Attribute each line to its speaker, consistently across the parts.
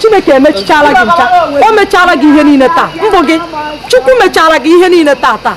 Speaker 1: chineke emechichara gị ncha o mechara gị ihe niile taa mbụ gị chukwu mechara gị ihe niile taa taa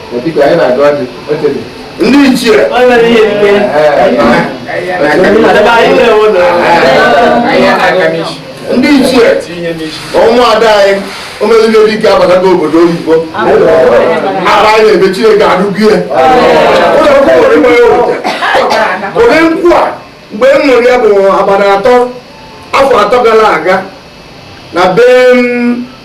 Speaker 2: ndị ichie ndị ichie ọnwa ada anyị omelile dike abatago obodo oyibo aba anyị ebe chineke arụgbu ya ụdị nkwụ a mgbe m ṅụrụ ya bụ abalị atọ afọ atọ gara aga na be m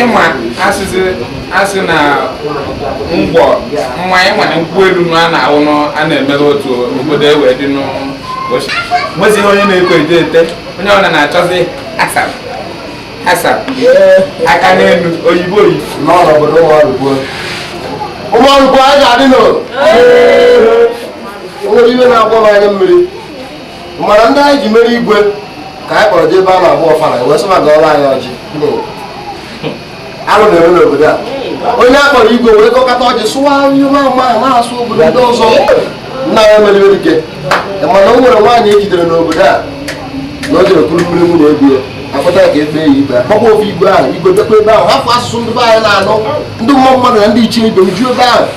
Speaker 3: ịma asịsị asị na ngwọ mma ịma na nkwụ elu na a na-aṅụ na a na-emere otu obodo ewe dị n'ọchị nwezighị onye na-ekwe ete ete onye ọbụla na-achọzi asap asap aka n'elu oyibo oyibo n'ọrụ obodo
Speaker 2: ụmụ ọrụ kwuo ụmụ ọrụ kwuo anyị ga-adị n'ụlọ o nwere ihe na-agba m anya mmiri mana ndị anyị ji mere igwe ka anyị kpọrọ jee ebe a na-agba ọfala wee sị maka ọrụ anyị ọjị arụ na-eme n'obodo a onye a kpọrọ igwe wee kọkọta ọjị sụwa ihe ma ama na-asụ obodo ndị ọzọ nna ya meliwere ike mana o nwere nwaanyị e jidere n'obodo a na o jere kuru mmiri nwunye ebie akpọta ka e kpee ya ikpe akpọkwa ofu igwe ahụ igwe jekwa ebe ahụ hafụ asụsụ ndị be anyị na-anụ ndị mmụọ mmadụ na ndị ichie ibe uju ebe ahụ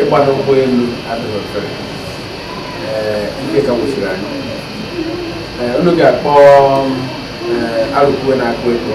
Speaker 3: ịgba n'ụgbọ elu adịghị ọfere nke ka wụsiri anyị unu ga-akpọ arụkwue na-akụ ego